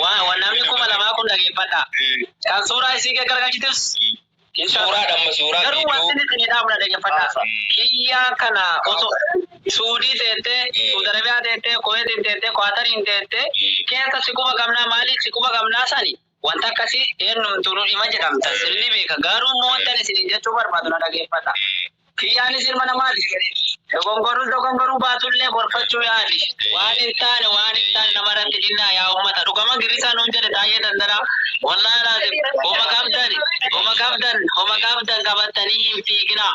Waan namni kuma lamaa kun dhageeffadhaa. Kan suuraa isii gaggargalchitus hin Suuraa dhamma suuraa Garuu waan viidiyoo. sinni isin jedhaa muna dhageeffadhaa. Kiyyaa kana osoo Suudii teettee, Suudi Arabiyaa teettee, Kuweetiin teettee, Kwaatariin teettee keessa si quba qabnaa maalii si quba qabnaa sani Wanta akkasii eennumtuu nu dhima jedhamtan sin ni beeka, garuu immoo wantan isiniin jechuu barbaadu na dhageeffadha. Kiyyaanis ilma namaati. Dogongorrus dogongoruu baatu illee gorfachuu yaali. Waan hin taane waan hin taane nama irratti dinnaa yaa ummata. Dhugama Girrisaa nuun jedhe Taayyee Dandanaa. Wallahi Al-Azim homa qabdan homa qabdan homa qabdan qabattanii hin fiiginaa.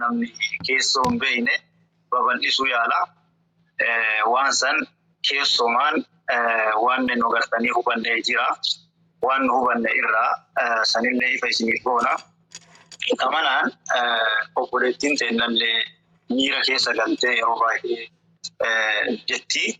namni keessoo hin beekne babal'isuu yaala. Waan san keessoomaan waan nu gartanii hubannee jira. Waan nu hubanne irraa sanillee ifa isiniif goona. Kamanaan obboleettiin teennallee miira keessa galtee yeroo baay'ee jetti.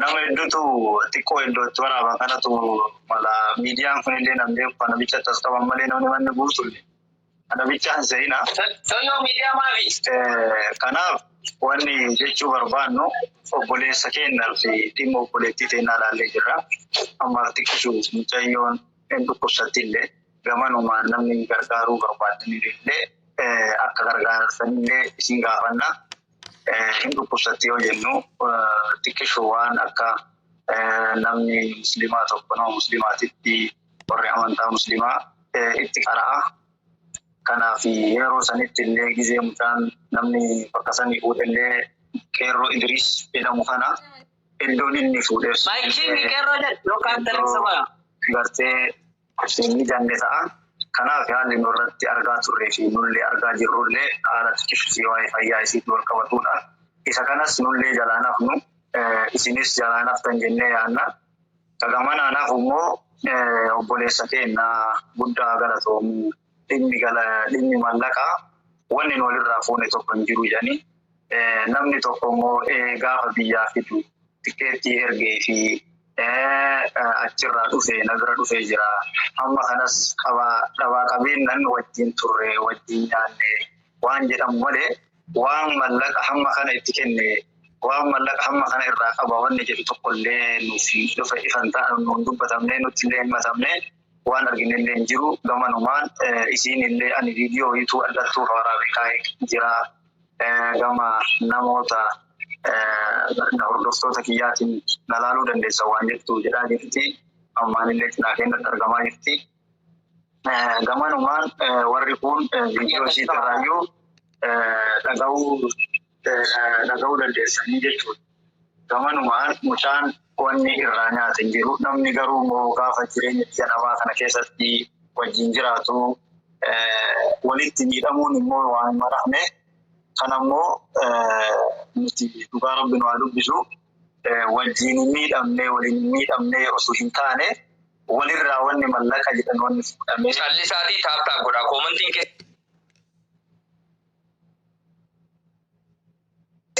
Nama hedduutu xiqqoo iddootti waraaba kanatu mala miidiyaan kunillee nan beeku kana bicha tas qaban malee namni manni guutulle kana bichaan se'ina. Soyyoo miidiyaa maafi? Kanaaf wanni jechuu barbaannu obboleessa keenya fi dhimma obboleettii teennaa ilaallee jirra. Ammaaf xiqqishu mucayyoon hin dhukkubsattillee gamanumaan namni gargaaruu barbaaddanillee akka gargaartanillee isin gaafanna. Hin dhukkubsatti yoo jennu xiqqishu waan akka namni musliimaa tokko nama musliimaatitti warri amantaa musliimaa itti qara'a. Kanaaf yeroo sanitti illee gizee mucaan namni bakka sanii fuudhe illee qeerroo Idiriis jedhamu kana iddoon inni fuudhes. Maayikii inni qeerroo jedhu yookaan televiziyoona. Gartee Ibseen ni danne ta'a. Kanaaf haalli nu irratti argaa turree fi nullee argaa jirrullee haala xiqishisii waa'ee fayyaa isiitti wal qabatudha. Isa kanas nullee jalaa hin hafnu, isinis jalaa hin haftan jennee yaanna. Ka gamanaan hafu immoo obboleessa keenna guddaa galatoomi. dhimmi gala dhimmi mallaqaa wanni nu walirraa fuune tokko hin jiru jedhanii namni tokko immoo gaafa biyyaa fidu tikkeettii ergee fi achirraa dhufee na bira dhufee jira. Amma kanas qabaa dhabaa qabeennan wajjin turre wajjin nyaanne waan jedhamu malee waan mallaqa hamma kana itti kenne waan mallaqa hamma kana irraa qaba wanni jedhu tokkollee nuuf ifa ifan ta'an nuun dubbatamne nutti illee hin matamne. Waan arginellee hin jiru gamanumaan isiinillee ani viidiyoo wayiituu adhartuuf waraabee kaa'ee jira gama namoota na hordoftoota kiyyaatiin na laaluu dandeessan waan jettu jedhaa jirti ammaanillee cinaa keenyatti argamaa jirti gamanumaan warri kun viidiyoo isiitirraayyuu dhaga'uu dhaga'uu dandeessanii jechuudha. Gamanumaan mucaan wanni irraa nyaate hin jiru. Namni garuu immoo gaafa jireenya biyya namaa kana keessatti wajjin jiraatu walitti miidhamuun immoo waan hin maramne. Kan ammoo nuti dhugaa rabbi nu haa dubbisu wajjin hin miidhamne waliin hin miidhamne osoo hin taane walirraa wanni mallaqa jedhan wanni fuudhamee. Callisaatii taaptaap godhaa koomantiin keessa.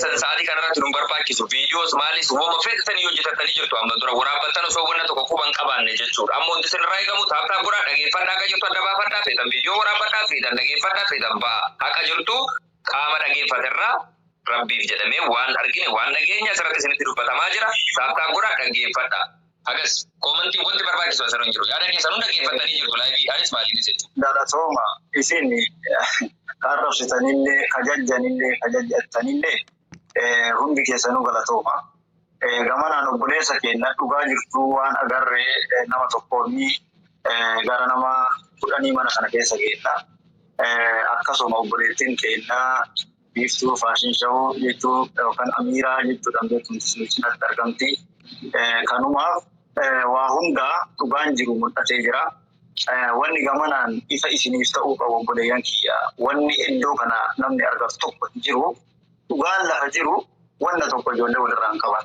sa'aatii kanarratti nu barbaachisu viidiyoos maalis woma fedhatanii hojjetatanii jirtu amma dura waraabbattan osoo wanna tokko quban qabaanne jechuudha amma wanti isinirraa eegamu taaptaa godhaa dhageeffadhaa akka jirtu adda baafadhaa feetan viidiyoo waraabbadhaa feetan dhageeffadhaa feetan ba'a haqa jirtu qaama dhageeffaterraa rabbiif jedhamee waan argine waan dhageenya asirratti isinitti dubbatamaa jira taaptaa godhaa dhageeffadhaa Hagas koomantiin wanti barbaachisu asirra hin jiru. Yaada keessan hunda geeffattanii jirtu laayivii anis maaliin isa jechuudha. Galatooma isin ka arrabsitanillee ka jajjanillee ka jajjattanillee hundi keessanuu galatooma. Gamanaan obboleessa keenya dhugaa jirtuu waan agarre nama tokkoonni gara nama kudhanii mana kana keessa geedha. Akkasuma obboleettiin keenya Biiftuu Faashin Shawuu jechuu yookaan Amiiraa jechuudhaan beekamtu sun cinatti argamti. Kanumaaf waa hundaa dhugaan jiru mul'atee jira. Wanni gamanaan ifa isiniif ta'uu qabu obboleeyyan kiyya. Wanni iddoo kana namni argatu tokko hin jiru. Dhugaan lafa jiru wanna tokko ijoollee walirraa hin qaban.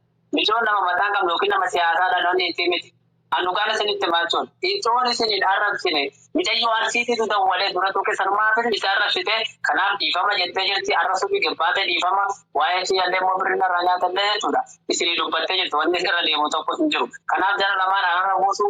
Micoon nama mataa hin qabne yookiin nama siyaasaa dhaloonni itti miti. An dhugaan isinitti hima jechuun itoon isin hin arrabsine micayyoo Arsiitiitu dawwalee dura tuqe sanumaafin isa arrabsite kanaaf dhiifama jettee jirti arrabsuufi gabbaate dhiifama waa'ee kiyyallee immoo birri narraa nyaatallee jechuudha isinii dubbattee jirti wanni irra deemu tokko hin jiru kanaaf jara lamaan araara buusuu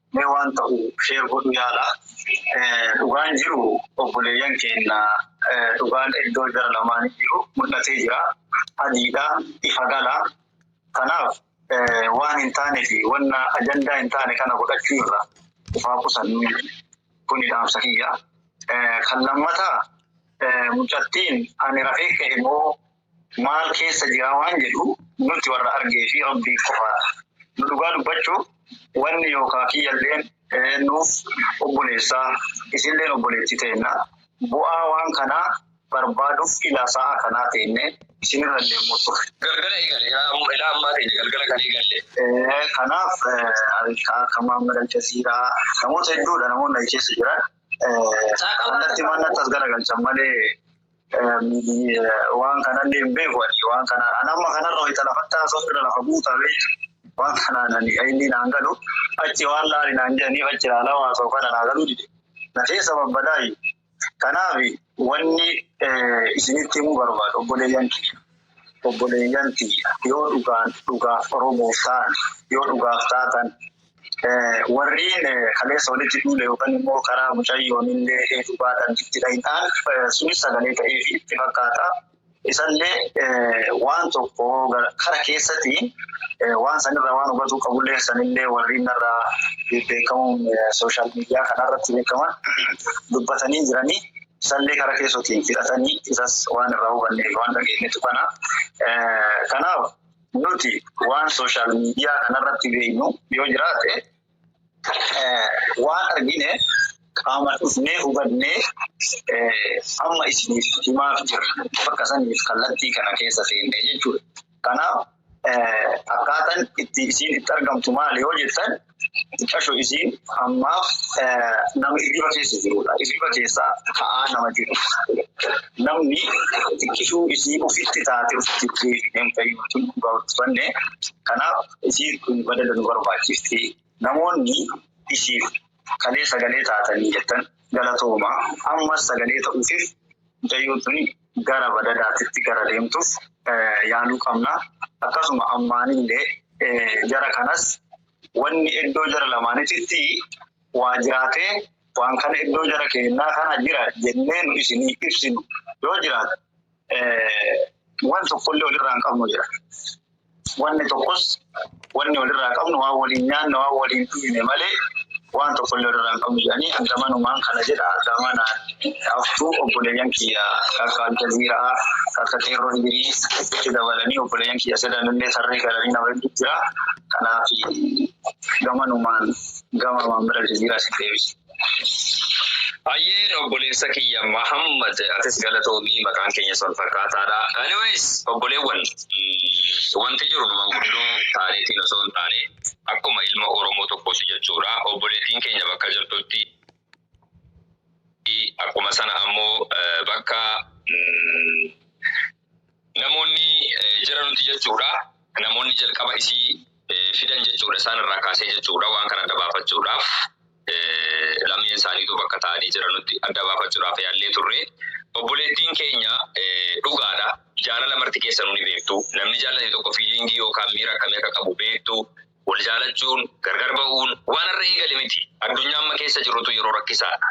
Mee waan ta'u share godhu yaala. Dhugaan jiru obboleeyyan keenna dhugaan iddoo jara lamaanii jiru mul'atee jira. Adiidha, ifa gala. Kanaaf waan hin taane fi wanna ajandaa hin taane kana godhachuu irra of haa qusannuu. Kuni dhaamsa kiyya. Kan lammataa mucattiin ani rafee ka'e moo maal keessa jiraa waan jedhu nutti warra argee fi Rabbiif qofaadha. Nu dhugaa dubbachuuf wanni yookaa kiyyalleen nuuf obboleessa isilleen obboleetti teenna bu'aa waan kanaa barbaaduf ilaa sa'aa kanaa teenne isinirra leemuu turre. Galgala eegale ilaa ammaa teenya galgala kan eegalle. Kanaaf ka akka Muhammad Aljaziiraa namoota hedduudha namoonni achi keessa jiran kallatti mannatti as garagalchan malee Waan kanallee hin beeku ani waan kana an amma kanarra wayita lafatti haasa'u irra lafa buuta beektu waan kanaan ani inni naan galu achi waan laali naan jedhaniif achi laalaa haasa'u kana naa galuu dide na keessa babbadaayyu kanaaf wanni isinitti himuu barbaadu obboleeyyan kiyya obboleeyyan kiyya yoo dhugaan dhugaaf oromoof ta'an yoo dhugaaf taatan Warriin kaleessa walitti duule yookaan immoo karaa mucayyoon illee heetuu baatan itti dhayxaan sunis sagalee ta'ee fi itti fakkaata. Isallee waan tokko kara keessatti waan sanirraa waan hubatuu qabullee sanillee warriin irraa beekamuun sooshaal miidiyaa kanarratti beekaman dubbatanii jiranii. Isallee kara keessotiin fixatanii isas waan irraa hubanne waan dhageenyetu kana. Kanaaf Nuti waan sooshaal miidiyaa kanarratti beeknu yoo jiraate waan argine qaamaan dhufnee hubannee amma isiniif himaaf jirra. Bakka saniif kallattii kana keessa seenne jechuudha. Kanaaf akkaataan itti isiin itti argamtu maali yoo jettan Xiqqasho isiin ammaaf nama hirriba keessa jirudha. Hirriba keessa ta'aa nama jiru. Namni xiqqishuu isii ofitti taate ofitti deebineen fayyuutu dhugaa hojjefanne. Kanaaf isiin kun badala nu barbaachifti. Namoonni isiif kalee sagalee taatanii jettan galatooma. Ammas sagalee ta'uufiif mucayyoo tuni gara badadaatitti gara deemtuuf yaaluu qabna. Akkasuma ammaanillee jara kanas wanni iddoo jara lamaanititti waa jiraatee waan kana iddoo jara keennaa kana jira jennee nu isinii ibsinu yoo jiraate waan tokkollee walirraa hin qabnu jira. Wanni tokkos wanni walirraa qabnu waan waliin nyaanne waan waliin dhuyne malee waan tokkollee walirraa hin qabnu jedhanii hanga manumaan kana jedha gama naan haftu obboleeyyan kiyya takka Aljaziira'aa takka Qeerroo Idiriis itti dabalanii obboleeyyan kiyya sadanillee tarree galanii nama hedduu jira kanaaf gamanumaan gama Maammir Aljaziiraas hin deebisu. Hayyeen obboleessa kiyya Mahammad atis galatoomii maqaan keenyas wal fakkaataadha. Anyways obboleewwan mm, wanti jiru nu manguddoo taaneetiin osoo hin taane akkuma ilma Oromoo tokkooti jechuudha. Obboleettiin keenya bakka jirtutti akkuma sana ammoo eh, bakka mm, Namoonni jara nuti jechuudha. Namoonni jalqaba isii fidan jechuudha. Isaan irraa kaasee jechuudha. Waan kana adda baafachuudhaaf lameen isaaniitu bakka taa'anii jiranutti adda baafachuudhaaf yaallee turre. Obboleettiin keenya dhugaadha. Jaalala marti keessanuu ni beektu. Namni jaallate tokko fiiliingii yookaan miira akkamii akka qabu beektu. Wal jaalachuun, gargar ba'uun waan har'a eegale miti. Addunyaa amma keessa jirrutu yeroo rakkisaadha.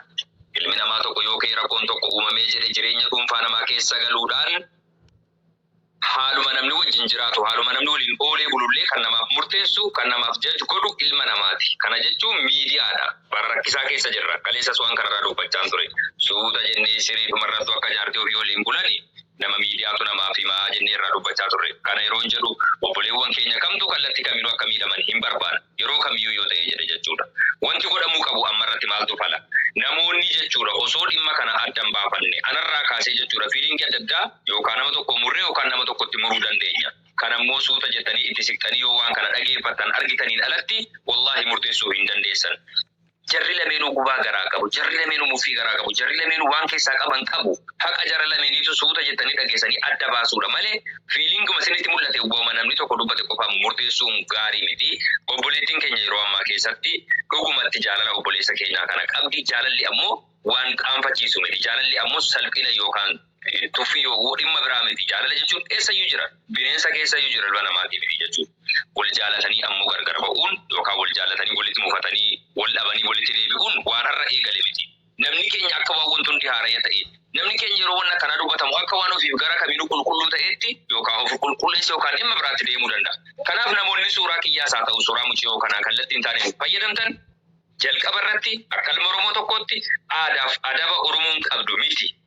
Ilmi namaa tokko yoo ka'ee rakkoon tokko uumamee jedhe jireenya dhuunfaa namaa keessa galuudhaan haaluma namni wajjin jiraatu, haaluma namni waliin oolee bulullee kan namaaf murteessu, kan namaaf judge godhu ilma namaati. Kana jechuun miidiyaadha. Bara rakkisaa keessa jirra. Kaleessas waan kanarraa dubbachaan ture. Suuta jennee siriidhumarrattu akka jaartii ofii waliin bulani. nama miidiyaatu namaaf hima jennee irraa dubbachaa turre. Kana yeroon jedhu obboleewwan keenya kamtuu kallatti kaminuu akka miidhaman hin barbaannu. Yeroo kamiyyuu yoo ta'e jedhe jechuudha. Wanti godhamuu qabu ammarratti maaltu fala? Namoonni jechuudha osoo dhimma kana adda hin baafanne anarraa kaasee jechuudha fiiliingii adda addaa yookaa nama tokko murree yookaan nama tokkotti muruu dandeenya. Kanammoo suuta jettanii itti siqxanii yoo waan kana dhageeffattan argitaniin alatti wallaahi murteessuu hin dandeessan. Jarri lameenuu gubaa garaa qabu. Jarri lameenuu muffii garaa qabu. Jarri lameenuu waan keessaa qaban qabu. Haqa jara lameeniitu suuta jettanii dhageessanii adda baasuudha malee feelinguma isinitti mul'ate wauma namni tokko dubbate qofaan murteessuun gaarii miti. Obboleettiin keenya yeroo ammaa keessatti dhugumatti jaalala obboleessa keenyaa kana qabdi. Jaalalli ammoo waan qaanfachiisu miti. Jaalalli ammoo salphina yookaan. Tuffii yookuu dhimma biraa miti. Jaalala jechuun eessayyuu jira. Bineensa keessayyuu jira ilma namaatii miti jechuudha. Wal jaalatanii ammoo gargar ba'uun yookaan wal jaallatanii walitti mufatanii, wal dhabanii walitti deebi'uun waan har'a eegale miti. Namni keenya akka waan wanti hundi haaraya ta'ee, namni keenya yeroo wanni akkanaa dubbatamu akka waan ofiif gara kamiinuu qulqulluu ta'eetti yookaan of qulqulleesse yookaan dhimma biraatti deemuu danda'a. Kanaaf namoonni suuraa kiyyaas haa ta'u suuraa muciyoo kanaa kallattii hin taaneen fayyadamtan jalqaba irratti akka ilma Oromoo tokkootti aadaaf adaba Oromoon qabdu miti.